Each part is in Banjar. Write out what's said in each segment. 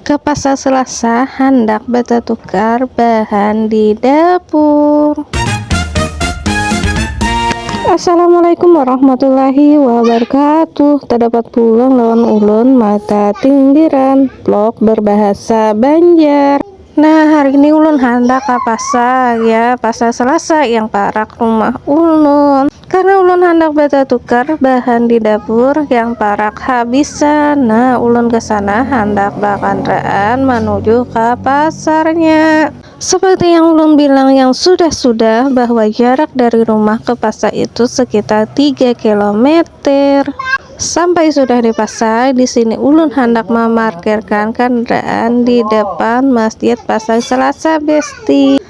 Ka pasar selasa handak batatukar bahan di dapur. Assalamualaikum warahmatullahi wabarakatuh Tadapat pulang lawan ulun mata tindiran Vlog berbahasa banjar Nah hari ini ulun handak ka pasar ya Pasar selasa yang parak rumah ulun Karena ulun handak batatukar bahan di dapur yang parak habisan, nah ulun ke sana handak bakandaraan manuju ka pasarnya. Seperti yang ulun bilang yang sudah-sudah bahwa jarak dari rumah ke pasar itu sekitar tiga kilometer. Sampai sudah di pasar, di sini ulun handak mamarkirkan kandaraan di depan Masjid Pasar Selasa, Besti.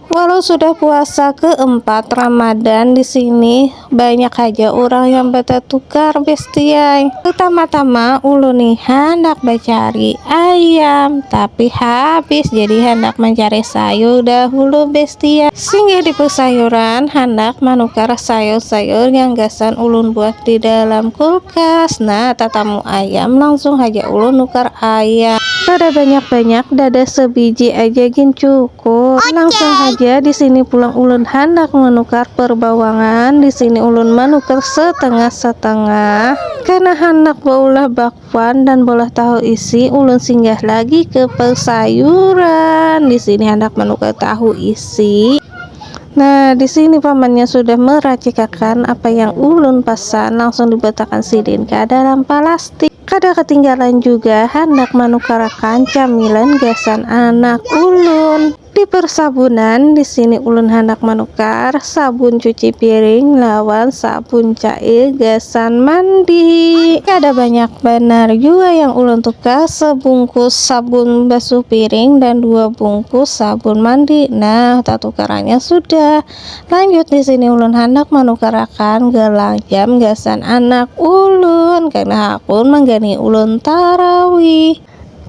Walau sudah puasa keempat Ramadan di sini banyak aja orang yang batatukar bestiai. Pertama-tama ulun nih handak bacari ayam tapi habis jadi handak mencari sayur dahulu bestiai. Singgah di pesayuran handak manukar sayur-sayur yang gasan ulun buat di dalam kulkas. Nah tatamu ayam langsung haja ulun nukar ayam. Kada banyak-banyak dadah sebiji aja gin cukup. Syukur, langsung haja di sini pulang ulun handak manukar perbawangan, di sini ulun manukar setengah-setengah. Karena handak baulah bakwan dan bolah tahu isi, ulun singgah lagi ke persayuran. Di sini handak manukar tahu isi. Nah, di sini pamannya sudah meracikakan apa yang ulun pesan, langsung dibetakan sidin ke dalam palastik. Kada katinggalan juga handak manukarakan camilan gasan anak ulun. Di persabunan, di sini ulun handak manukar sabun cuci piring lawan sabun cair gasan mandi. Kada banyak banar jua yang ulun tukar, sebungkus sabun basuh piring dan dua bungkus sabun mandi. Nah, tatukarannya sudah. Lanjut di sini ulun handak manukarakan gelang jam gasan anak ulun karena hakun manggani ulun tarawih.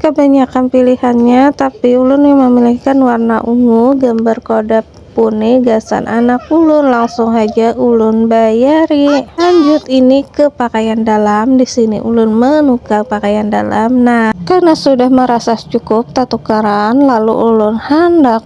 Kabanyakan pilihannya tapi ulun yang memilihkan warna ungu gambar kodap pune gasan anak ulun langsung haja ulun bayari. Lanjut ini ke pakaian dalam di sini ulun menukar pakaian dalam nah karena sudah merasa cukup tatukaran lalu ulun handak